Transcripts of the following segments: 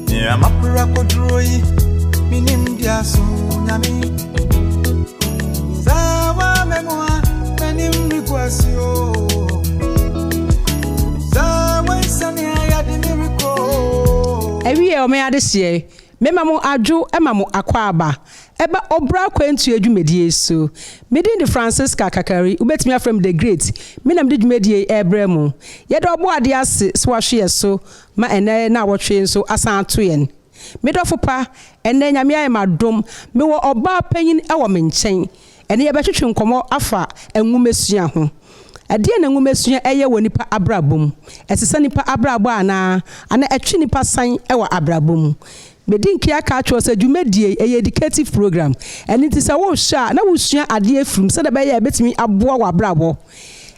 Nea mapra koduro yi, menim di aso nyame. Zawa memua, menim requasi o. Zawa isani ayadi mi riko. Awie ɔmo yɛ adehyeɛ, mema mo adwo ma mo akwaaba ɛba ɔbra akwantuo dwumadie so. Me din de Francisca Kakari, wobɛtumi afrɛ me The Great, me na mede dwumadie yi ɛrebrɛ mo. Yɛda Ɔbɔadeɛ ase sɛ wahwe yɛn so Ma ɛnnɛ naawɔtwe yi nso asan ato yɛn. Me dɔfo pa, ɛnnɛ Nyame ayɛ me adom, mewɔ ɔbaa panyin wɔ me nkyɛn. Ɛnnɛ yɛbɛtwetwe nkɔmmɔ afa nwomasua ho. Ɛdeɛn na nwomasua yɛ wɔ nipa abrabɔ mu? Ɛsesa nipa abrabɔ anaa? Anaa ɛtwe nipa san wɔ abrabɔ mu? Medi nkan aka akyerɛ wo sɛ dwumadie yi, ɛyɛ educative program. Ɛno nti sɛ wohwɛ a, na wosua adeɛ firi mu sɛdeɛ ɛbɛyɛ a ɛbɛtumi aboa w'abrabɔ.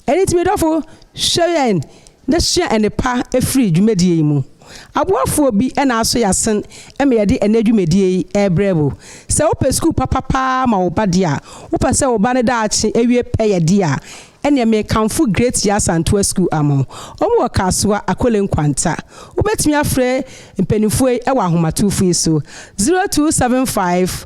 Ɛno nti me dɔfo, hwɛ yɛn. na sua nnepa firi dwumadie yi mu. Aboafoɔ bi na aso y'asen ma yɛde ɛnnɛ dwumadie yi rebrɛ wo. Sɛ wopɛ sukuu papa paa ma wo ba deɛ a, wopɛ sɛ wo ba no daakye awie pɛ yɛ deɛ a, ɛneɛ mekamfo Great Yaa Santoa Sukuu amo. Wɔn wɔ Kasoa, Akole Nkwanta. Wobɛtumi afrɛ mpaninfoɔ yi wɔ ahomatufo yi so, 0275.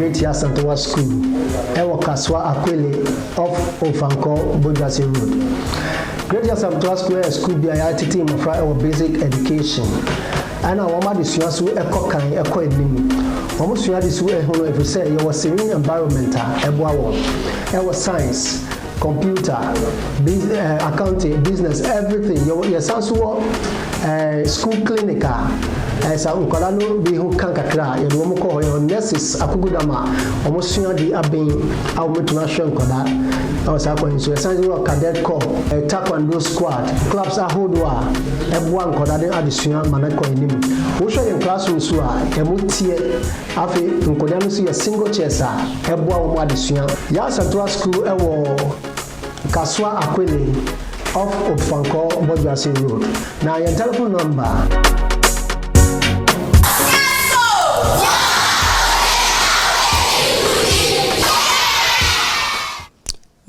Great Asantewa School ɛwɔ Kasoa Akwele off Ofankɔ Bojase Road. Great Asantewa School yɛ school bi a yɛatete mmɔfra ɛwɔ basic education ɛna wɔn adesua so ɛkɔ kan ɛkɔ anim. Wɔn sua de so ɛho no ɛfiri sɛ yɛwɔ serene environment a ɛboa wɔn ɛwɔ science. Computer, biz eh, accounting, business, everything. Yɛwɔ yɛsan so wɔ eh, school clinic a eh, sɛ nkwadaa no bi ho ka kakra a yɛde wɔn kɔ hɔ. Yɛwɔ nurses akokodam a wɔn sua de aben a wɔbɛtumi ahwɛ nkwadaa ɛwɔ saa kwan yi so. Yɛsan so wɔ cadet corps, eh, taekwondo squad, clubs ahodoɔ a ɛboa nkwadaa ne adesua ma no kɔ anim. Wohwɛ yɛn classrooms so a ɛmu teɛ Afei nkɔdaa no nso yɛ single chairs a ɛboa wɔn adesua. Yasatoa School wɔ Kasoa Akwene off Opfankor Bɔdwoase Road. Na yɛn telephone number.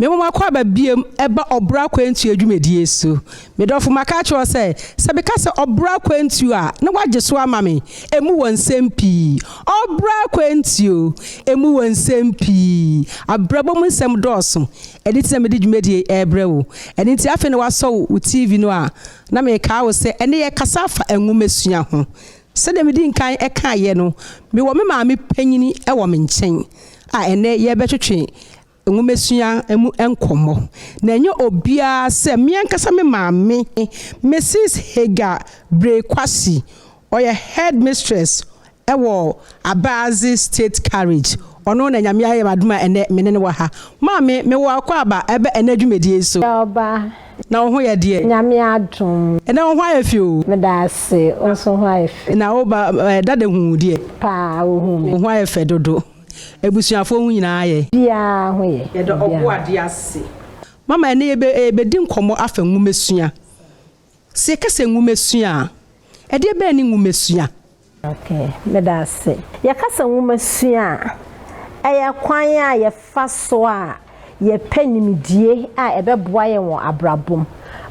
Mmom mako aba biom ɛba ɔboro akwantuo dwumadie so. Me dɔfo maka akyerɛ wo sɛ, sɛ meka sɛ ɔboro akwantuo a, na woagye so ama me. Ɛmu wɔ nsɛm pii. Ɔboro akwantuo. Ɛmu wɔ nsɛm pii. Abrabɔ mu nsɛm dɔɔso. Ɛno nti na mede dwumadie yi ɛrebrɛ wo. Ɛno nti afei na woasɔ wo wo TV no a, na mekaa wo sɛ ɛnnɛ yɛkasa afa nwomasua ho. Sɛdeɛ medi nkan ɛkaaeɛ no, mewɔ me maame panyini ɛwɔ me nkyɛn a ɛnnɛ yɛrebɛtwetwe nwomasua mu nkɔmmɔ. Na ɛnyɛ obiara sɛ me ankasa me maame, Misis Hagar Brey Kwasi, ɔyɛ headmistress wɔ Abaadze State Carriage, ɔno na Nyame ayɛ me adom a ɛnnɛ me ne no wɔ ha. Maame, mewɔ akwaaba ɛbɛ ɛnnɛ dwumadie yi so. Yɛwɔ ba. Na wo ho yɛ deɛ? Nyame adom. Ɛnnɛ wo ho ayɛ fi o. Meda ase, wo nso ho ayɛ fi. Na wo ba dada huu wo deɛ? Paa, ɔhuu me. Wo ho ayɛ fɛ dodo. Abusuafoɔ ho nyinaa yɛ. Biara ho yɛ. Yɛda Ɔbɔadeɛ ase. Mama, ɛnnɛ yɛbɛdi nkɔmmɔ afa nwomasua. Sɛ yɛka sɛ nwomasua a, ɛdeɛ bɛn ne nwomasua? Ok, meda ase. Yɛka sɛ nwomasua a, ɛyɛ kwan a yɛfa so a yɛpɛ nimdie a ɛbɛboa yɛn wɔ abrabɔ mu.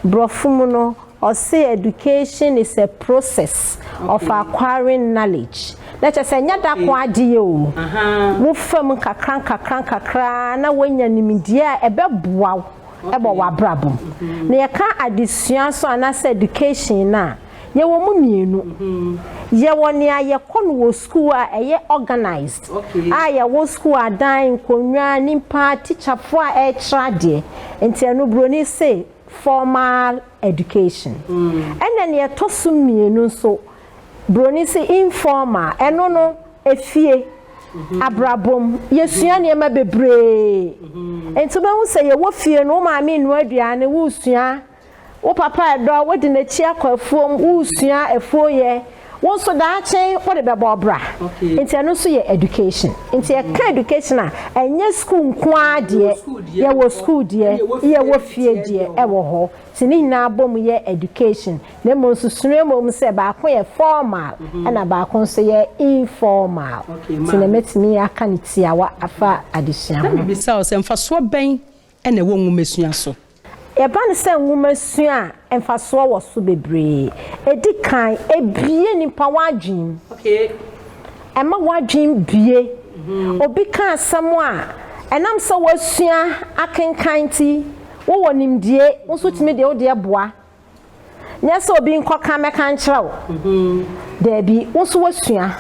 Brɔfo mu no, ɔse education is a process of acquiring knowledge, na kyerɛ sɛ ɛnyɛ da ko adeyɛ o, wo fa mu nkakra nkakra nkakra na woanya nimdie a ɛbɛboa wo wɔ w'abrabɔ mu. Na yɛka adesua nso anaasɛ education no a, Yɛwɔ mu mmienu. Yɛwɔ nea yɛkɔ no wɔ sukuu a ɛyɛ organised a yɛwɔ sukuu adan, nkonnwa, nnipa, tikyafoɔ a ɛrekyerɛ adeɛ. Nti ɛno buroni se formal education. Ɛna nea ɛtɔ so mmienu nso, buroni se informal. Ɛno no, efie, abrabɔ mu, yɛsua nneɛma bebree. Nti wobɛhu sɛ yɛwɔ fie no, wo maame renoa aduane, woresua Wo papa redɔ wo de no akyi akɔ afuom, woresua afuo yɛ, wo nso daakye wode bɛbɔ ɔbra. Nti ɛno nso yɛ education. Nti yɛka education a, ɛnyɛ sukuu nko ara deɛ, yɛwɔ sukuu deɛ, yɛwɔ fie deɛ ɛwɔ hɔ. Nti ne nyinaa bom yɛ education. Na mmom nso sua mmom sɛ baako yɛ formal ɛna baako nso yɛ informal. Nti na mɛtumi aka no tiawa afa adesua ho. Na mebisa wo sɛ mfasoɔ bɛn na ɛwɔ nwomasua so? Ɛba no sɛ nwomasua a mfasoɔ wɔ so bebree. Ɛdi kan, ɛbue nnipa wɔn adwene mu. Ɛma wɔn adwene bue. Obi ka asɛm a, ɛnam sɛ woasua akenkan nti, wowɔ nimdeɛ, wo nso tumi de wo deɛ boa. Nyɛ sɛ obi nkɔka mmɛka nkyerɛ wo. Daabi, wo nso woasua.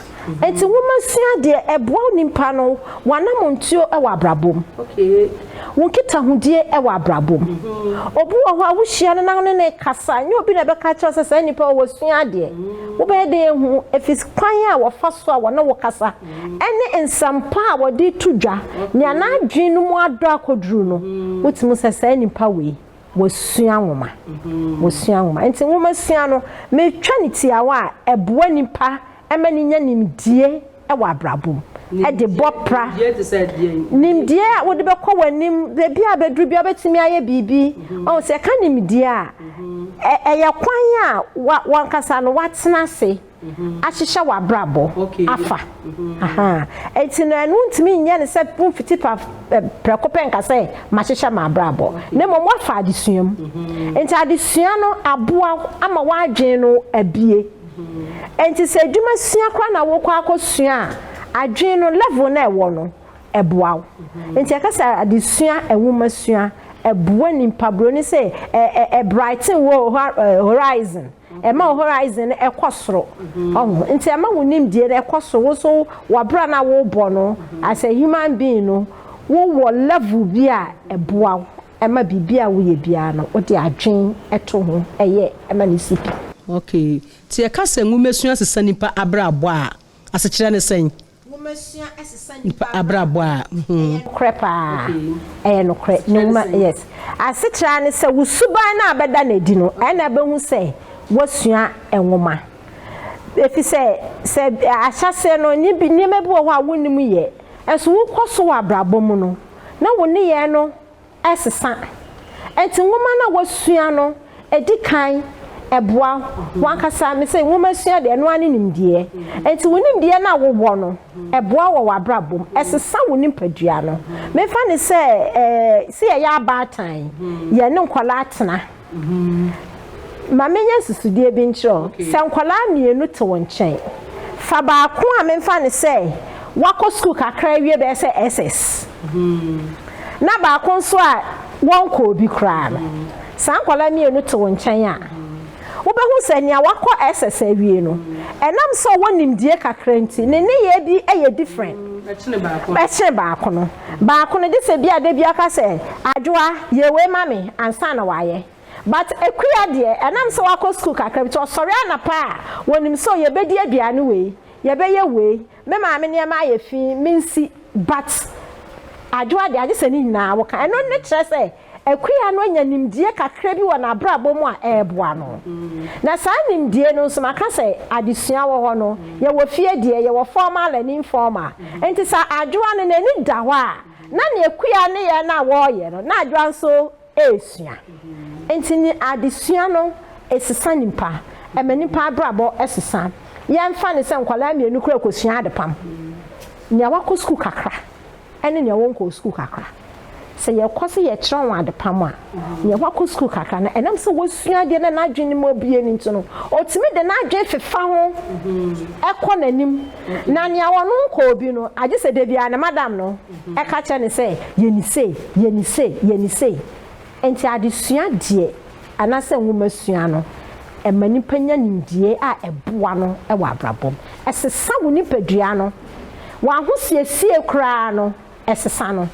Enti nwoma sua deɛ ɛboa wo nipa no w'anammɔntuo wɔ abrabɔ mu, wo nkitahodie wɔ abrabɔ mu. Obi wɔ hɔ a wohyia no na wo ne no rekasa, nyɛ obi na ɛbɛka akyerɛ wo sɛ saa nipa wei wasua adeɛ. Wobɛyɛ dɛn ahu? Ɛfiri kwan a wɔfa so a wɔne wo kasa ne nsɛmpa a wɔde reto dwa, nea n'adwene no mu adɔ akɔduru no, wotumi hu sɛ saa nipa wei Wɔasua nwoma. Wɔasua nwoma. Nti nwomasua no, metwa no tiawa a, ɛboa nnipa ma no nya nimdie wɔ abrabɔ mu de bɔ pra. Nimdie te sɛ deɛn? Nimdie a wode bɛkɔ w'anim, baabi a bɛduru biara wobɛtumi ayɛ biribi. Ɔho, sɛ yɛka nimdie a, ɛyɛ kwan a w'ankasa no woatena ase. ahyehyɛ w'abrabɔ afa. Enti no ɛno wontumi nyɛ no sɛ womfiti prɛko pɛ nka sɛ mahyehyɛ m'abrabɔ, na mmom woafa adesua mu. Enti adesua no aboa wo ama w'adwene no abue. Enti sɛ adwuma sua koraa na wokɔ akɔsua a, adwene no level no a ɛwɔ no ɛboa wo. Enti yɛka sɛ adesua, nwomasua ɛboa nipa, broni se ɛ ɛ ɛ brighten wo horizon. Ɛma wo horizon no ɛkɔ soro. Ɔho? Nti ɛma wo nimdie no ɛkɔ soro. Wo nso w'abra no a wobɔ no as a human being no, wowɔ level bi a ɛboa wo ma biribi a woyɛ biara no wode adwene to ho yɛ ma no si pi. Okay. Nti yɛka sɛ nwomasua sesa nipa abrabɔ a, asekyerɛ ne sɛn? Nwoma sua sesa nipa abrabɔ a ho. Korɛ paa. Ɛyɛ nokorɛ. Ne nwoma yes. Asetra ara ne sɛ wo suban no a bɛda no adi no ɛna bɛhu sɛ wasua nwoma. Efisɛ sɛ ahyɛaseɛ no nneɛma bi wɔ hɔ a wonnim yɛ nso wokɔ so wɔ abrabɔ mu no na wo nneyɛɛ no sesa. Enti nwoma no a wɔasua no di kan boa w'ankasa. Mise nwoma sua deɛ, ɛno ara ne nimdeɛ. Enti wo nimdeɛ no a wowɔ no, ɛboa wɔ w'abrabɔ mu. Ɛsesa wo nipadua no. Memfa no sɛ, sɛ yɛyɛ abaatan, yɛne nkwadaa tena. Ma menyɛ nsusudeɛ bi nkyerɛ wo. Sɛ nkwadaa mmienu te wo nkyɛn, fa baako a memfa no sɛ wakɔ sukuu kakra awie bɛyɛ sɛ SS, na baako nso a wɔnkɔɔ bi koraa no. Saa nkwadaa mmienu te wo nkyɛn a, wobɛhu sɛ nea wakɔ SS awie no, ɛnam sɛ ɔwɔ nimdeɛ kakra nti, ne nneyɛɛ bi yɛ different kyene baako no. Baako no desɛ bia da bia ɔka sɛ Adwoa yɛ wei ma me ansa na wayɛ but Akua deɛ ɛnam sɛ wakɔ school kakra bi nti ɔsɔre anapa a wɔnim sɛ oh yɛbɛdi aduane wei, yɛbɛyɛ wei, me maame nneɛma ayɛ fii mensi but Adwoa deɛ agyesɛ ne nyinaa woka ɛno ne kyerɛ sɛ Akua no anya nimdeɛ kakra bi wɔ n'abrabɔ mu a ɛreboa no. Na saa nimdeɛ no nso, maka sɛ adesua wɔ hɔ no, yɛwɔ fie deɛ, yɛwɔ formal and informal. Enti sɛ Adwoa no n'ani da hɔ a, na ne akua ne yɛ no a wɔreyɛ no, na Adwoa nso resua. Enti ne adesua no sesa nipa, ɛma nipa abrabɔ sesa. Yɛmfa no sɛ nkwadaa mmienu koraa rekɔsua adepam. Nea wakɔ sukuu kakra, ne nea wɔnkɔɔ sukuu kakra. Sɛ yɛkɔ sɛ yɛkyerɛ wɔn adepam a, nea wakɔ sukuu kakra no, ɛnam sɛ wasua adeɛ na n'adwene no mu abue no nti no, ɔtumi de n'adwene fefa ho kɔ n'anim. Na nea ɔno nkɔɔ bi no, agye sɛ da biara ne madam no ka kyerɛ no sɛ, Yɛ no sei, yɛ no sei, yɛ no sei. Enti adesua deɛ anaasɛ nwomasua no, ɛma nipa nya nimdeɛ a ɛboa no wɔ abrabɔ mu. Ɛsesa wo nipadua no. W'ahosiesie koraa no, ɛsesa no.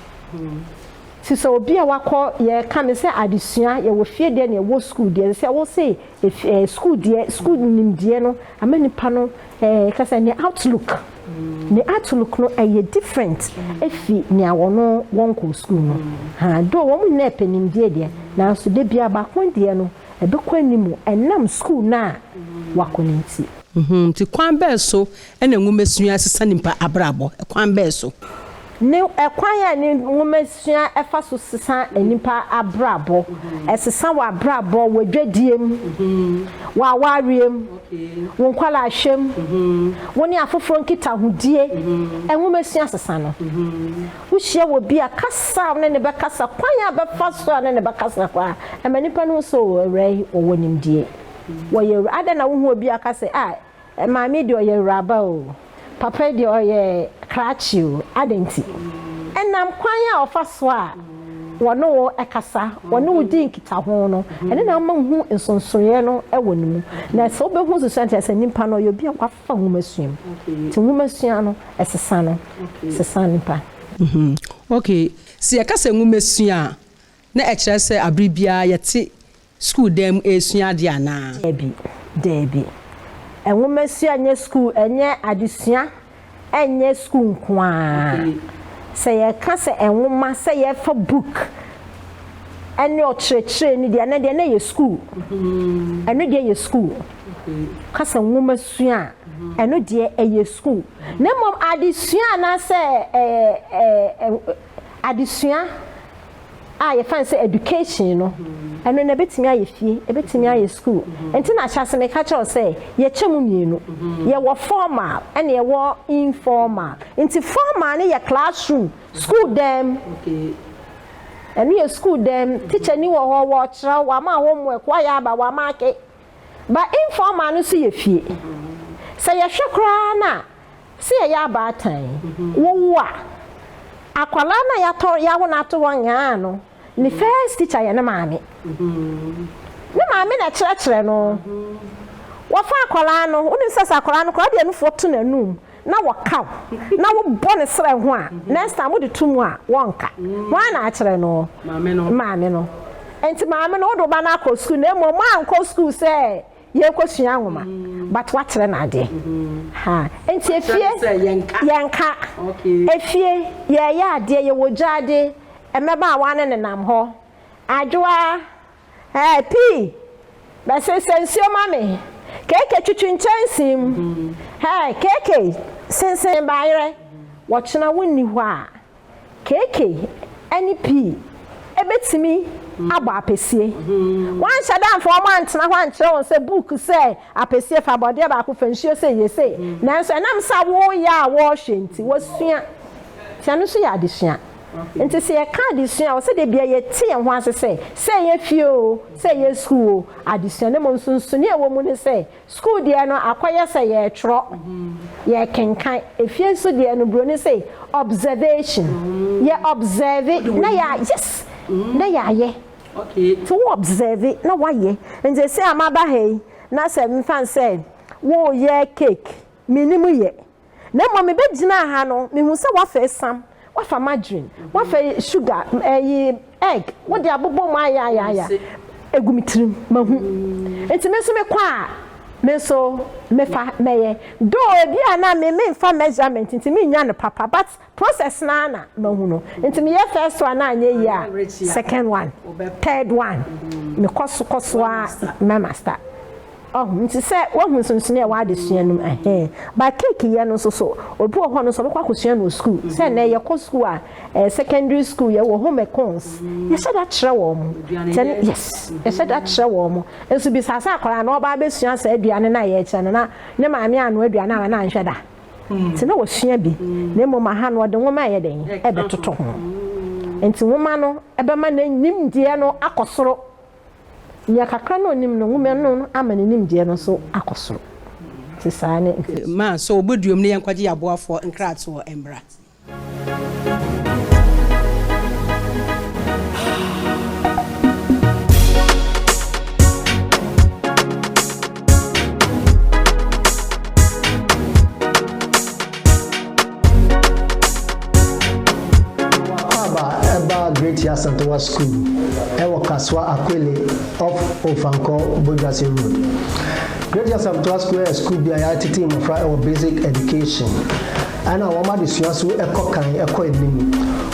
Nti sɛ obi a wakɔ, yɛka no sɛ adesua, yɛwɔ fie deɛ ne yɛwɔ sukuu deɛ, sɛ wose Ɛɛ sukuu deɛ sukuu nimdeɛ no ama nipa no ɛɛ eh, kasa ne outlook ne outlook no ɛyɛ eh, different efi nea wɔn wɔn kɔ sukuu no ha do wɔn nyinaa pɛ nimdeɛ deɛ nanso de bia baako deɛ no ɛbɛkɔ anim ɛnam sukuu no a wakɔ ne nti. Mhm, nti kwan bɛɛ so Ɛna nwomasua sesa nipa abrabɔ kwan bɛɛ so? Ne ɛkwan a ne nwomasua ɛfa so sesa nipa abrabɔ, ɛsesa wɔ abrabɔ, wɔ dwadie mu, wɔ awareɛ mu, wo nkwadaa hwɛ mu, wo ne afoforɔ nkitahodie, nwomasua sesa no. Wo hyia wɔ bi a kasa a wo ne no bɛkasa, kwan a bɛfa so a ne no bɛkasa koraa ɛma nipa no hu sɛ oo awura yi ɔwɔ nimdie, ɔyɛ awura, adɛn na wo hu obi a ɔka sɛ ah Maame deɛ ɔyɛ awuraba o, papa yi deɛ ɔyɛ krakye o, adɛn nti? Ɛnam kwan a wɔfa so a wɔne wo kasa, wɔne wo di nkitaho no, ɛno na ama wohu nsonsonoeɛ no wɔ ne mu. Na sɛ wobɛhu nsonsonoeɛ nti, ɛsɛ nipa no ɔyɛ obi a wafa nwomasua mu. Nti nwomasua no, ɛsesa no, ɛsesa nipa. Okay, sɛ yɛka sɛ nwomasua a, na ɛkyerɛ sɛ aberɛ biara yɛte sukuu dan mu resua ade anaa? Dabi, dabi. Nwomasua nyɛ sukuu, ɛnyɛ adesua, ɛnyɛ sukuu nko ara. Sɛ yɛka sɛ nwoma, sɛ yɛfa book ɛne ɔkyerɛkyerɛni deɛ a, ɛno deɛ na ɛyɛ sukuu. Ɛno deɛ yɛ sukuu. Ka sɛ nwomasua a, ɛno deɛ ɛyɛ sukuu. Na mmom adesua anaasɛ ɛɛ ɛɛ adesua a yɛfa no sɛ education no, ɛno no ɛbɛtumi ayɛ fie, ɛbɛtumi ayɛ school. Nti na ahyɛase meka kyerɛ wo sɛ yɛkyɛ mu mmienu. Yɛwɔ formal ɛne yɛwɔ informal. Nti formal no yɛ classroom, school dan mu. Ɛno yɛ school dan mu. Teacher ni wɔ hɔ, wɔkyerɛ, wɔama homework, wɔayɛ aba, wɔama ake. Ba informal no nso yɛ fie. Sɛ yɛhwɛ koraa no a, sɛ yɛyɛ abaatan, wowo a, akwadaa no a yɛatɔ, yɛawo no ato hɔ nyaa no, ne first teacher yɛ ne maame. Ne maame na ɛkyerɛkyerɛ no. Wɔfa akwadaa no, wonim sɛ sɛ akwadaa no koraa, ɔde anufoɔ to n'anum, na wɔka wo na wo bɔ ne serɛ ho a next time wode to mu a wɔnka hwan na akyerɛ no maame no nti maame no wode wo ba no akɔ sukuu na mmom moankɔ sukuu sɛ yɛkɔ sua nwoma but woakyerɛ no adeɛ ha nti efie yɛnka efie yɛyɛ adeɛ yɛwɔ gyaade mmɛbaawa ne nenam hɔ adwoa Ɛɛ pii na sensɛn nsuo ma me Keekei twitwi nkyɛnsee mu Ɛɛ keekei sensen bayerɛ Wɔkyena wo nni hɔ a Keekei ɛne pii ɛbɛtumi abɔ apɛsie Woanhyɛ da mfa wɔn antena hɔ ankyerɛ wɔn sɛ book sɛ Apɛsie fa bɔdeɛ baako fa nsuo sei yɛ sei Nanso ɛnam sɛ woyɛ a wɔhwɛ nti wɔsua nti ɛno nso yɛ adesua. Enti sɛ yɛka adesua a, ɛwɔ sɛ da biara yɛte yɛn ho ase sɛ, sɛ ɛyɛ fie oo, sɛ ɛyɛ sukuu oo, adesua no mmom nsonsonoe a ɛwɔ mu ne sɛ, sukuu deɛ no, akɔyɛ sɛ yɛretwerɛ, yɛrekenkan. Efie nso deɛ no, Buroni se, observation. Yɛ observe na yɛ, yes, na yɛayɛ. Nti wo observe na woayɛ. Nti seesei a maba ha yi, na sɛ mfa no sɛ woreyɛ cake, mennim yɛ. Na mmom mebɛgyinaa ha no, mehuu sɛ woafa esiam, woafa margarine, woafa suga, ɛyi, egg, wode abobɔ mu ayɛ ayɛ ayɛ agu me tirim. Mahu. Nti me nso mekɔ a, me nso mɛfa mɛyɛ. Though ebia na me memfa measurement nti mennya no papa but Process no ara na mahu no nti meyɛ first one no anyɛ yie a second one, third one mekɔ so kɔ so ara mɛ master ɔho nti sɛ woahu nsonsonoeɛ a w'adesua no mu ɛhee but cake yɛ no nso so obi wɔ hɔ no nso ɔbɛkɔ akɔsua no wɔ school sɛ nnɛ yɛkɔ school a eh, secondary school yɛwɔ home econs yɛhyɛ da kyerɛ wɔ mo sɛ yes yɛhyɛ da kyerɛ wɔ mo nso bisa sɛ akwaraa na ɔbaa bɛsua saa aduane no a yɛkyerɛ no na ne maame ano aduane a na anhwɛ da Nti na ɔsua bi, na mmom aha no ɔde nwoma ɛyɛ dɛn? Ɛrebɛtoto ho. Nti nwoma no bɛma ne nimdeɛ no akɔ soro. Nea kakra na ɔnim no, nwoma no ama ne nimdeɛ no nso akɔ soro. Nti saa ne. Ma, sɛ ɔbɔduam no yɛnkɔgye yɛn aboafoɔ nkratoɔ mmra. Akwaaba ɛbaa Great Yasantowa School ɛwɔ Kasoa Akwele off Ofankor Boduase Road. Great Yasantowa School ɛyɛ school bi a yɛatetee mmɔfra ɛwɔ basic education. Ɛna wɔn adesua so kɔ kan kɔ anim.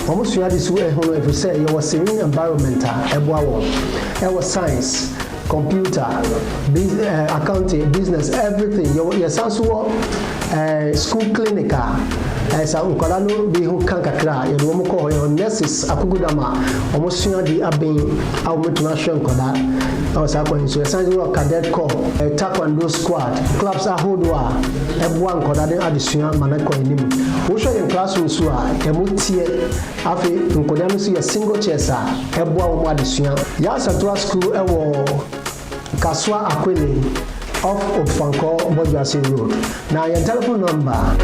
Wɔn sua ade so hu no efisɛ yɛwɔ serene environment a ɛboa wɔn. Ɛwɔ science, computer, biz eh, accounting, business, everything. Yɛwɔ, yɛsan nso wɔ eh, school clinic a eh, sɛ nkwadaa no bi ho ka kakra a yɛde wɔn kɔ hɔ. Yɛwɔ nurses akokodam a wɔn sua ade aben a wɔbɛtumi ahwɛ nkwadaa ɛwɔ saa kwan yi so. Yɛsan nso wɔ cadet corps, eh, taekwondo squad, clubs ahodoɔ a ɛboa nkwadaa no adesua ma no ɛkɔ anim. Wohwɛ yɛn classroom nso a, ɛmu teɛ. Afei nkwadaa no nso yɛ single chairs a, ɛboa wɔn adesua. Yasatua School wɔ Kasoa Akwene off Ofankor Bɔdwoase Road. Na yɛn telephone number.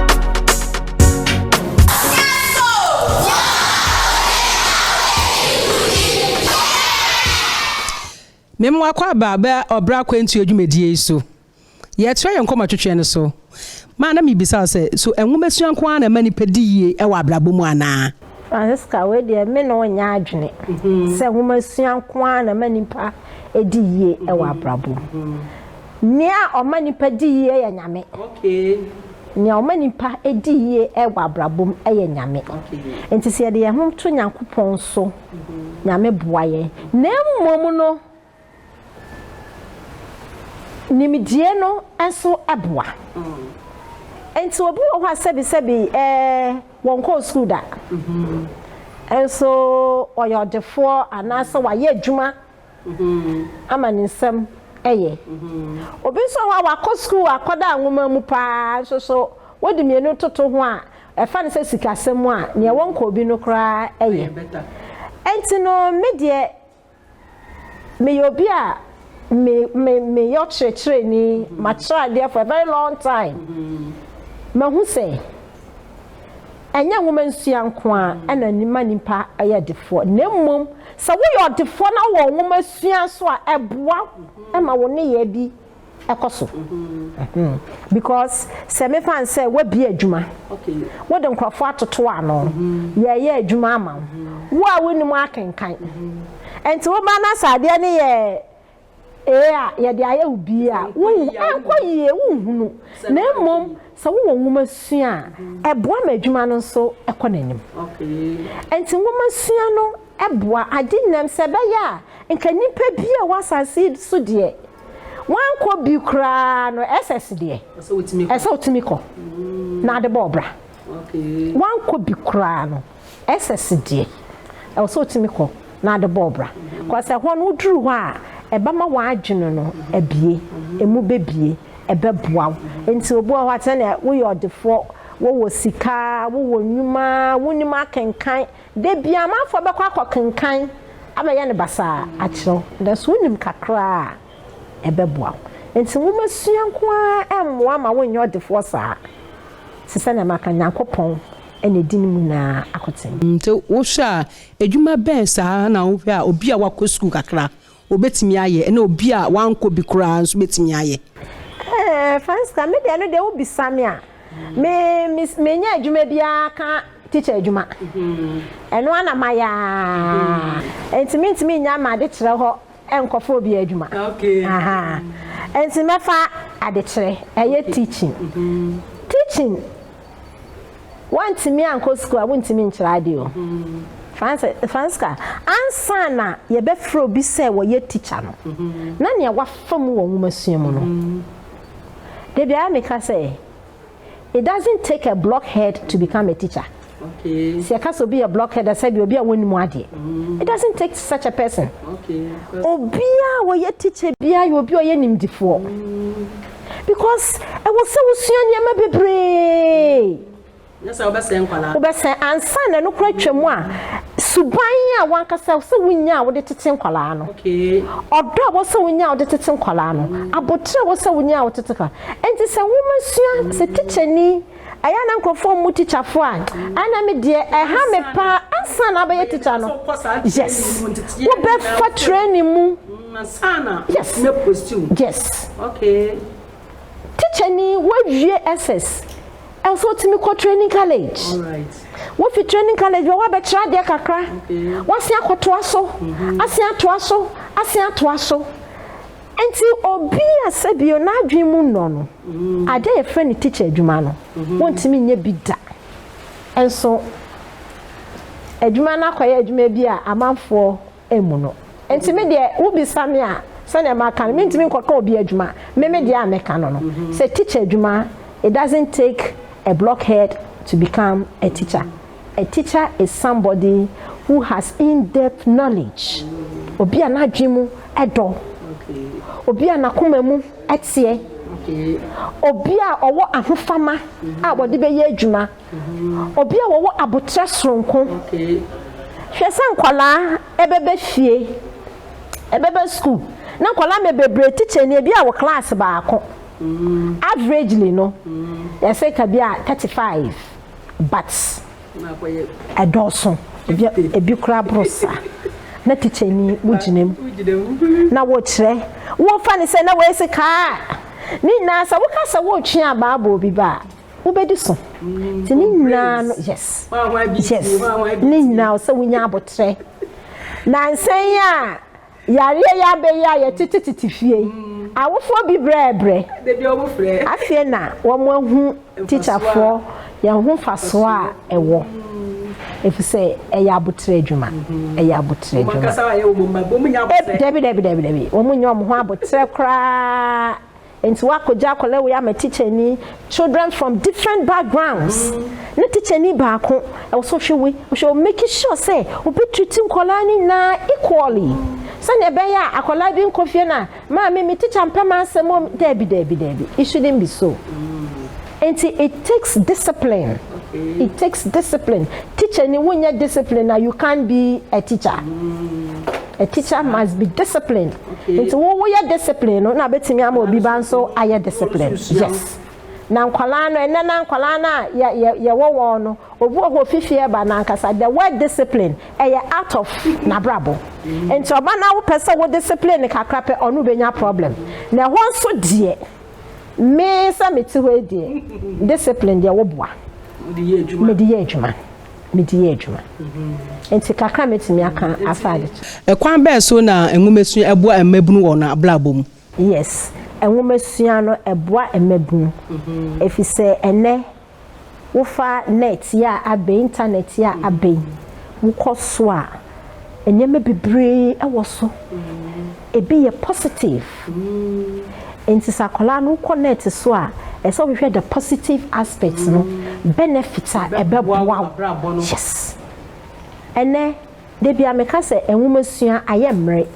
Mema wakɔ aba ɔbra akwantuo dwumadie yi so. Yɛtrɛw yɛn kɔmɔtwetwe no so ma na mibisa wo sɛ, So nwomasua nko ara na ɛma nnipa di yiye wɔ abrabɔ mu anaa? Francisca, Wei deɛ, me ne wo nyɛ adwene sɛ nwomasua nko ara na ɛma nnipa di yiye wɔ abrabɔ mu. Nea ɔma nnipa di yiye yɛ Nyame. Nea ɔma nnipa di yiye wɔ abrabɔ mu yɛ Nyame. Enti sɛ yɛde yɛn ho to Nyankopɔn so, Nyame boa yɛn. Na mmom no, Nimdeɛ no nso boa. Enti obi wɔ hɔ a sɛbisɛbi wɔnkɔɔ sukuu da, nso ɔyɛ ɔdefoɔ anaasɛ wayɛ adwuma ama ne nsam yɛ. Obi nso wɔ hɔ a wakɔ sukuu akɔda nwoma mu pa ara, nso so wode mmienu toto ho a, ɛfa no sɛ sikasɛm mu a, deɛ wɔnkɔɔ bi no koraa yɛ. Enti no, me deɛ, Meyɛ obi a me me meyɛ ɔkyerɛkyerɛni, makyerɛ adeɛ for a very long time. Mahu sɛ ɛnyɛ nwoma nsua nko ara na ɛma nipa yɛ ɔdefoɔ na mmom sɛ woyɛ ɔdefoɔ na wowɔ nwoma sua nso a ɛboa ma wo nneyɛɛ bi ɛkɔ so because sɛ mefa no sɛ woabie adwuma wode nkurɔfoɔ atoto ano yɛyɛ adwuma ama wo wo a wonim akenkan nti woba na sɛ adeɛ no yɛ ee a yɛde ayɛ wo bie a ɛnkɔ yie wonhunu na mmom sɛ wowɔ nwoma sua a ɛboa ma adwuma no nso ɛkɔ n'anim nti nwoma sua no ɛboa agye nnam sɛ ɛbɛyɛ a nka nnipa bi a wɔ asase so deɛ wankɔ bi koraa no SS deɛ ɛsɛ otumi kɔ na ade bɔ ɔbra wankɔ bi koraa no SS deɛ ɛwɔ sɛ otumi kɔ na ade bɔ ɔbra kɔsɛ ɛhɔ no woduru hɔ a ɛbɛma w'adwene no abie emu bɛbie ɛbɛboa wo nti obi wɔ hɔ atɛnɛ woyɛ ɔdefoɔ wowɔ sika wowɔ nnwuma wonim akenkan Da biara amanfoɔ bɛkɔ akɔkenkan abɛyɛ no basaa akyerɛ wo, nanso wonim kakra a, ɛbɛboa wo. Enti nwomasua nko ara remmoa ma wonyɛ ɔdefoɔ saa. Te sɛdeɛ maka no, Nyankopɔn na ɛdi ne mu nyinaa akoten. Nti wohwɛ a, adwuma bɛn saa na wohwɛ a obi a wakɔ sukuu kakra Obetumi ayɛ, ɛna obi a wankɔ bi koraa nso betumi ayɛ. Ɛɛ, for instance, me deɛ no deɛ wobisa me a, me, me, menyɛ adwuma biara ka teacher adwuma. Ɛno ara na mayɛ ara. Nti mentumi nnya m'adekyerɛ hɔ nkɔfa obi adwuma. Ahaa. Nti mɛfa adekyerɛ, ɛyɛ teaching. Teaching. Woantumi ankɔ sukuu a, wontumi nkyerɛ ade o. Francisca, ansa na yɛbɛfrɛ obi sɛ ɔyɛ tikya no, na nea wafa mu wɔ nwomasua mu no. Da biara meka sɛ, It doesn't take a blockhead to become a teacher. Sɛ yɛka sɛ obi yɛ blockhead a, sɛdeɛ obi a wɔnnim adeɛ. It doesn't take such a person. Obiara a ɔyɛ tikya biara yɛ obi a ɔyɛ nimdefoɔ. because ɛwɔ sɛ wosua nneɛma bebree wobɛsɛn ansa na ɛno kora twam a suban a wankasa sɛ wonya a wode tete nkwadaa no ɔdɔ a wɔsɛ wonya a wode tete nkwadaa no abotire a wɔsɛ wonya a wode tete nkwadaa nti sɛ nwoma sua sɛ tikyani ɛyɛ a na nkurɔfoɔ mmu tikyafoɔ a ɛna me deɛ ɛha me paa ansa na abɛyɛ tikya no yes wobɛfa training mu yes yes tikya ni woawie ss ɛwɔ sɛ wotumi kɔ training college wofi training college bɛ woabɛkyerɛ adeɛ kakra woasen akɔtoa so asen atoa so asen atoa so Enti obi a sɛbio n'adwene mu nnɔ no ade a yɛfrɛ no tikya adwuma no, wontumi nyɛ bi da. Nso adwuma no akɔyɛ adwuma bi a amanfoɔ mmu no. Enti me deɛ wobisa me a, sɛdeɛ maka no, mentumi nkɔka obi adwuma. Me me deɛ a meka no no, sɛ tikya adwuma, it doesn't take a blockhead to become a teacher. A teacher is somebody who has in-depth knowledge, obi a n'adwene mu dɔ, obi a n'akoma mu teɛ, obi a ɔwɔ ahofama a wɔde bɛyɛ adwuma, obi a wɔwɔ aboterɛ soronko. Hwɛ sɛ nkwadaa ɛbɛba fie, ɛbɛba sukuu, na nkwadaa mɛ bebree teacher ni ebi a wɔ class baako, averagely no yɛsɛ ka bi a thirty five. but ɛdɔɔso ebi koraa boro saa na teacher ni wogyina mu na wokyerɛ wofa ne sɛ na wɔasi kaa ne nyinaa sɛ woka sɛ wotwe abaa bɔ obi ba a wobɛdi so nti ne nyinaa no yes yes ne nyinaa sɛ wonya abotrɛ na nsɛn a yareɛ yi abɛyi a yɛtete tete fie yi awofoɔ bi brɛɛ brɛ afei na wɔn ahu tikyafoɔ yɛn ho fasoɔ a ɛwɔ efisɛ ɛyɛ abotire adwuma ɛyɛ abotire adwuma dabi dabi dabi dabi wɔn nyɛ wɔn ho abotire koraa. Enti woakɔgye akwadaa wei ama tikyani, children from different backgrounds, ne tikyani baako, ɛwɔ sɛ wohwɛ wei, wohwɛ wei, make sure sɛ obi treat nkwadaa no nyinaa equally, sɛdeɛ ɛbɛyɛ a akwadaa bi nkɔ fie na, maame me tikya mpɛ m'asɛm o, daabi, daabi, daabi, it shouldn't be so. Nti it takes discipline it takes discipline teacher ni wo nyɛ discipline na you can't be a teacher a teacher must be discipline nti wo wo yɛ discipline no na betumi ama obi ba nso ayɛ discipline yes na nkwalaa no ɛnɛ na nkwalaa no a yɛ yɛ yɛwɔ wɔn no obi wɔ hɔ ofifi ɛba na ankasa the word discipline ɛyɛ out of n'abrabɔ nti ɔba na wopɛ sɛ wo discipline kakra pɛ ɔno benya problem na ɛhɔ nso deɛ. Me sɛ me te hɔ yi deɛ, discipline deɛ woboa. Mede yɛ adwuma. Mede yɛ adwuma. Mm-hmm. Nti kakra mɛtumi aka afa ade to. Ɛkwan bɛɛ so na nwomasua ɛboa mmabunu wɔ wɔn abrabɔ mu? Yes, nwomasua no ɛboa mmabunu. Ɛfisɛ mm-hmm. ɛnɛ wofa net yi a abɛn, internet yi a abɛn, wokɔ so a, nneɛma bebree wɔ so. Ebi yɛ positive. Nti sɛ akwadaa no wokɔ net so a, ɛsɛ sɛ wohwehwɛ the positive aspects no, benefit a ɛbɛboa wo. Yes. Ɛnɛ. Da bia meka sɛ nwomasua ayɛ mmrɛ.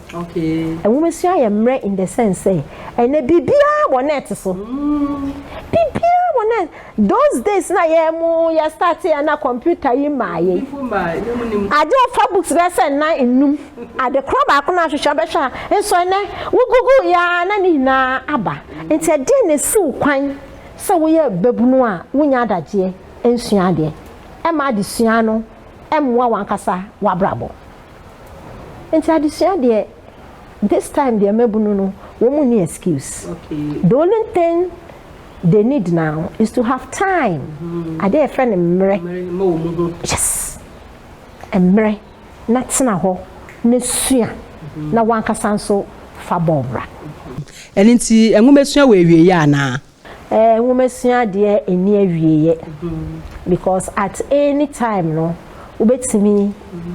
Nwomasua ayɛ mmrɛ in the sense sɛ ɛnɛ biribiara wɔ net so. Biribiara wɔ net. Those days na yɛ mu yɛ start yɛ na computer yi maa yɛ. Agye wo fa books bɛyɛ sɛ nnan nnum. Ade korɔ baako na ahwehwɛ bɛhwɛ a nso ɛnɛ wo google yɛ ara na ne nyinaa aba. Nti ɛdeɛn na ɛsi wo kwan sɛ woyɛ babunu a wonya adagyeɛ nsua adeɛ? Ɛma adesua no mmoa w'ankasa w'abrabɔ. Nti adesua deɛ this time deɛ mmabunu no wɔn nni excuse. The only thing they need now is to have time. Adeɛ yɛfrɛ no mmerɛ. Yes. Mmerɛ na tena hɔ na sua na w'ankasa nso fa bɔɔl bra. Ɛno nti nwomasua wɔ awieeɛ anaa? Eh nwomasua adeɛ ɛnni awieɛ because at any time no wobɛtumi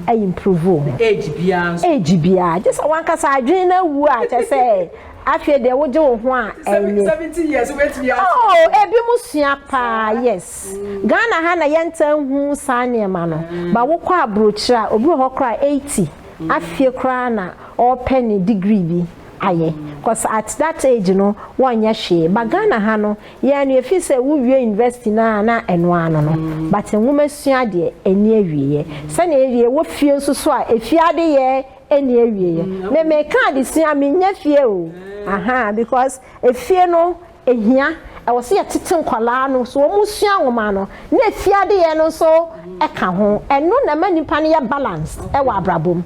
a improve wo ho age biara nso age biara gye sɛ wankasa adwene no awu a kyɛ sɛ afei deɛ wogye wo ho a ɛnyɛ seventy years wobɛtumi a oh ebi mo sua paa yes Ghana ha na yɛntaa nhu saa nneɛma no but wokɔ aburokyire a obi wɔ hɔ koraa eighty afie koraa na ɔrepɛ ne degree bi. ayɛ cos at that age no wɔnyɛ hwee but Ghana ha no yɛn no yɛfeel sɛ wo wie university no a na ɛno ara no no but nwoma sua deɛ ɛnni awieɛ sɛnea ɛwie wɔ fie nso so a ɛfie adeyɛ ɛnni awieɛ me meka adesua mennya fie o ahaa because ɛfie no Ehia, ɛwɔ sɛ yɛtete nkwadaa no so wɔn sua nwoma no, na efie adeyɛ no nso ka ho. Ɛno na ɛma nipa no yɛ balanced wɔ abrabɔ mu.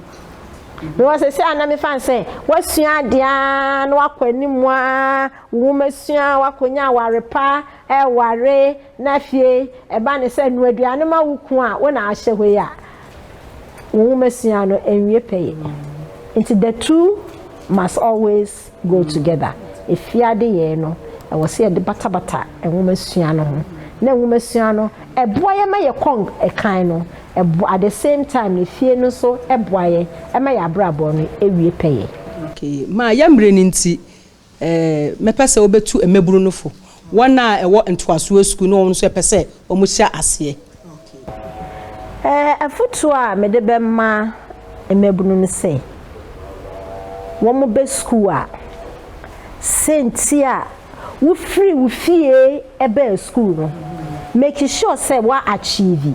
Mewɔ sɛsɛ a na mefa no sɛ wasua adeɛ ara na wakɔ anim ara, wo nwoma sua, wakɔnya aware pa, ɛware, na afei ɛba no sɛ noa aduane ma wo kunu a wo na ahyɛ hɔ yi a, nwomasua no anwie pɛyɛ. Nti the two must always go together. Efie adeyɛe no, ɛwɔ sɛ yɛde batabata nwomasua no ho. Na nwomasua no, ɛboa yɛn ma yɛkɔ kan no, ɛbo, at the same time no, efie no nso boa yɛn ma yɛn abrabɔ no wie pɛyɛ. Okay, ma yɛmmrɛ no nti, Ɛɛ, mɛpɛ sɛ wobɛtu mmabunu no fo, wɔn a ɛwɔ ntoasoɔ sukuu ne wɔn nso ɛpɛ sɛ wɔhyɛ aseɛ. Ɛɛ, afotuo a mede bɛma mmabunu ne sɛ, wɔbɛ sukuu a, sɛ nti a wofiri wo fie bɛɛ sukuu no, make sure sɛ wo achieve.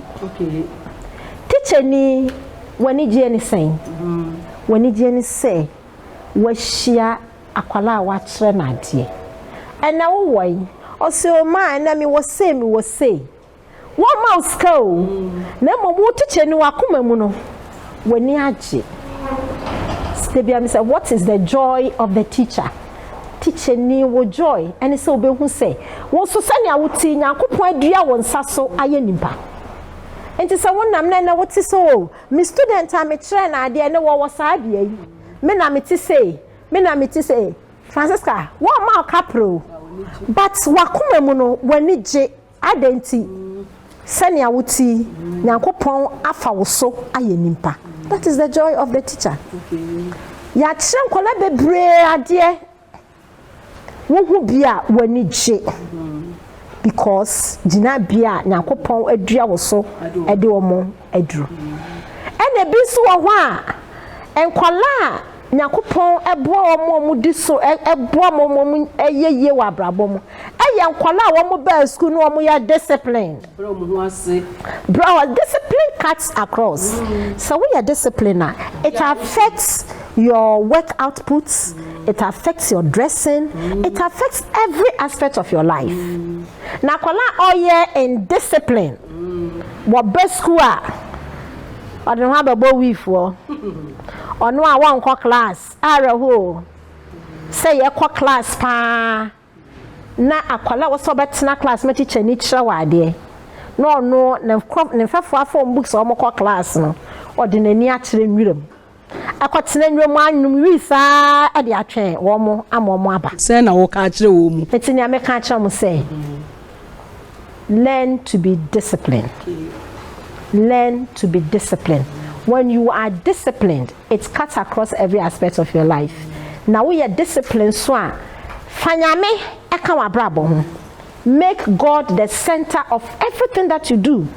Tikyani, w'anigyeɛ ne sɛn? W'anigyeɛ ne sɛ woahyia Akwadaa a wɔakyerɛ no adeɛ. Ɛnna wo wɔ he? Ɔse, O maa, ɛnna mewɔ sei, mewɔ sei. Wɔmma wo sika o, na mmom wo tikyani w'akoma mu no, w'ani agye. Da biara misa, What is the joy of the teacher? Tikyani, wo joy ne sɛ wobɛhu sɛ wo nso sɛnea wo te yi, Nyankopɔn adua wo nsa so ayɛ nipa. Nti sɛ wonam na ɛnnɛ wote sɛ, O, me student a mekyerɛɛ no adeɛ, ɛnnɛ ɔwɔ saa adeɛ yi. Me na mete sei, me na mete sei. Francisca, wɔmma wo kapre o, but w'akoma mu no, w'ani gye. Adɛn nti? Sɛnea wote yi, Nyankopɔn afa wo so ayɛ nipa. That is the joy of the teacher. Yɛakyerɛ nkwadaa bebree adeɛ. Wo ho bi a w'ani gye because gyinabea a Nyankopɔn adua wo so de wɔn aduru. Ɛna ebi nso wɔ hɔ a nkwadaa a Nyankopɔn boa wɔn a wɔn di so boa wɔn wɔn yɛ yie wɔ abrabɔ mu yɛ nkwadaa a wɔn baa sukuu na wɔn yɛ discipline. Brɛ wɔn ho ase. Brɛ wɔn Discipline cuts across. Sɛ woyɛ discipline a, it affects your work output, it affects your dressing, it affects every aspect of your life. Na akwadaa a ɔyɛ indiscipline wɔ ba sukuu a, ɔde ne ho abɛbɔ wiifoɔ. Ɔno a wɔnkɔ class, awerɛhoɔ o. Sɛ yɛkɔ class paa. na akwadaa a ɔwɔ sɛ ɔbɛtena class ma tikyani kyerɛ wo adeɛ na ɔno ne nkorɔ ne mfɛfoɔ afa wɔn books a wɔkɔ class no ɔde n'ani akyerɛ nwura mu akɔtena nwura mu anwom wii saa de atwɛn wɔn ama wɔn aba. Sɛn na woka kyerɛ wɔn? Enti nea meka kyerɛ wɔn sɛ. learn to be disciplined learn to be disciplined when you are disciplined it cuts across every aspect of your life na woyɛ discipline so a fa nyame ɛka w'abrabɔ ho make god the center of everything that you do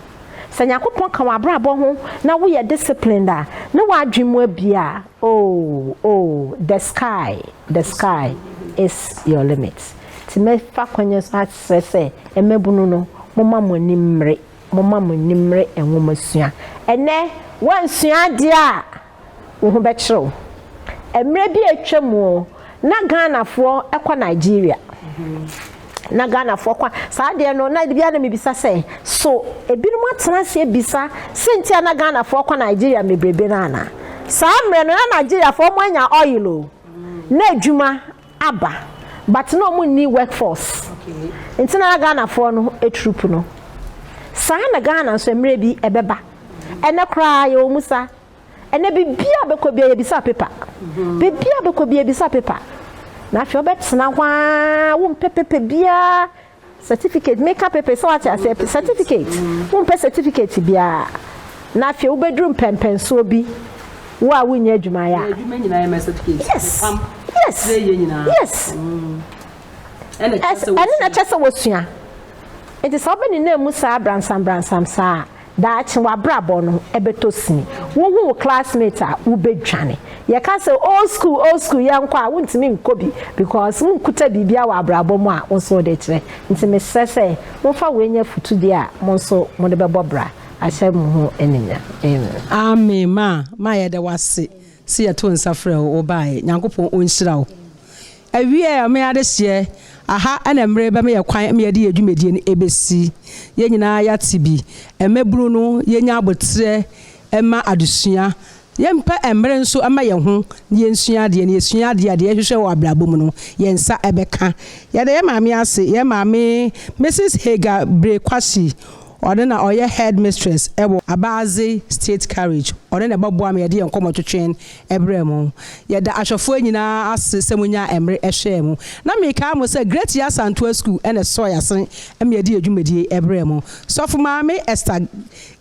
sɛ nyankopɔn ka w'abrabɔ ho na woyɛ disciplined a ne w'adwen mu abia oh oh the sky the sky is your limit Enti mɛfa kwan yi so asrɛ sɛ, mmabunu no, momma mo ani mmere, momma mo ani mmere nwomasua. Ɛnnɛ, woansua adeɛ a, wo ho bɛkyere wo. Mmerɛ bi a atwam oo, na Ghanafoɔ kɔ Nigeria. Na Ghanafoɔ kɔ, saa adeɛ no, na da biara na mebisa sɛ, so ebinom atena ase abisa sɛ nti a na Ghanafoɔ kɔ Nigeria mmebrebe no anaa? Saa mmerɛ no, na Nigeriafoɔ, wɔanya oil oo, na adwuma aba but na ɔmo nni work force nti na na Ghana foɔ no atrup no saa na Ghana nso ɛmmerɛ bi ɛbɛba ɛnɛ koraa yɛwɔ mu saa ɛnɛ biribi a bɛkɔ bia yɛbisa paper biribi a bɛkɔ bia yɛbisa paper na afei ɔbɛtena hɔ aa wo mpɛ paper biaa Certificate meka pepe so wate aseɛ pe certificate wo mpɛ certificate biaa na afei wo bɛduru mpɛmpɛnsoɔ bi wo a wo nyɛ adwuma yɛ yes yes yes ɛne na kyɛ sɛ wɔ sua nti sɛ wobɛ ne na mu saa bransam bransam saa Daakye w'abrabɔ no bɛtɔ sini. Wohu wo classmate a, wobɛdwane. Yɛka sɛ old school, old school, yɛnkɔ a, wontumi nkɔ bi because wonkuta biribiara wɔ abrabɔ mu a wo nso wode rekyerɛ. Nti mesrɛ sɛ momfa wei nyɛ afotudeɛ a mo nso mode bɛbɔ bra ahyɛ mo ho animuonyam. Amen. Amen ma ma yɛda wase se yɛto nsa frɛ wo wo baeɛ Nyankopɔn ɔnhyira wo. Awiei a me adehyeɛ aha na mmere bɛ meyɛ kwan me yɛde yɛ dwumadie no ɛbɛsi yɛn nyinaa yɛate bi mmabunu no yɛnya aboterɛ mma adesua yɛmpɛ mmere nso mma yɛn ho na yɛnsua adeɛ na yɛsua adeɛ a deɛ yɛhwehwɛ wɔ abrabɔ mu no yɛn nsa bɛka yɛda yɛn maame ase yɛn maame Mrs Hagar Bere Kwasi ɔno na ɔyɛ headmistress wɔ Abadze State Carriage ɔno na ɛbɛboa me yɛde yɛn nkɔmmɔtwetwe brɛɛ mo. Yɛda ahwɛfoɔ nyinaa ase sɛ monyaa mmere hwɛɛ mo. Na mekae mo sɛ Great Yaa Santoa School na ɛsɔɔ yɛn ase ma yɛde yɛn dwumadie brɛɛ mo. Sɔfo Maame Esther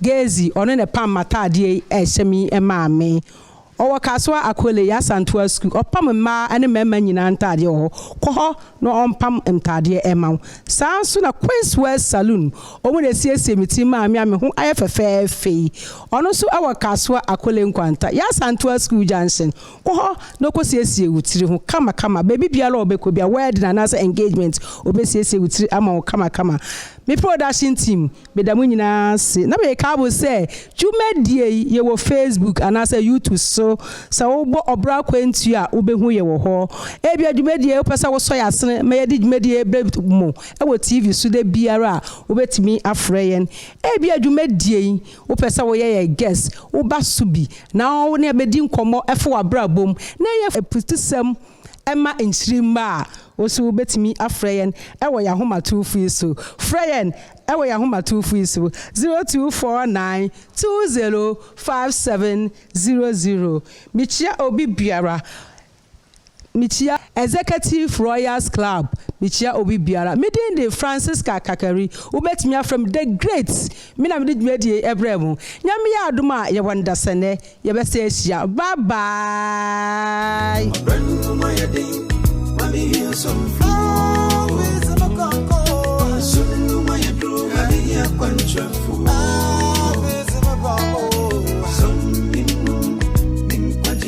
Gezi, ɔno na ɛpam m'ataadeɛ yi ɛhyɛ me yi maa me. Ɔwɔ Kasoa Akole, Yaa Santoa School. Ɔpam mmaa ne mmarima nyinaa ntaadeɛ wɔ hɔ. Kɔ hɔ na ɔmpam ntaadeɛ mma wo. Saa ara nso na Queenswell Saloon, wɔn na ɛsiesie me ti maa me a me ho ayɛ fɛfɛɛfɛ yi. Ɔno nso wɔ Kasoa Akole Nkwanta, Y'Asantewaa Sukuu Junction. Kɔ hɔ na kosiesie wo tiri ho kamakama. Baabi biara a ɔbɛkɔ biara, wedding anaasɛ engagement, obesiesie wo tiri ama wo kamakama. Me production team, meda mo nyinaa ase na meka mo sɛ dwumadie yi yɛwɔ Facebook anaasɛ YouTube so. Sɛ wobɔ Ɔbra Akwantuo a wobɛhu yɛ wɔ hɔ. Ebia dwumadie yi wopɛ sɛ wosɔ yɛn asene ma yɛde dwumadie yi brɛ mo wɔ TV so da biara a, wobɛtumi afrɛ yɛn. Ebia dwumadie yi wopɛ sɛ woyɛ yɛ guest woba so bi na wo ne yɛn bɛdi nkɔmmɔ fa w'abrabɔ mu na ɛyɛ aputusɛm ma nkyiri mma a, wo nso wobɛtumi afrɛ yɛn wɔ yɛn ahomatorofoɔ yi so. Frɛ yɛn wɔ yɛn ahomatorofoɔ yi so, 0249 20 5700. Mekyia obi biara Mekyia Executive Royals Club, mekyia obi biara. Me din de Francisca Kakari, wobɛtumi afrɛ me The Great, me na mede dwumadie yi brɛɛ mo. Nyame yɛ adom a yɛwɔ nnasɛ nnɛ yɛbɛsan ahyia. Bye bye.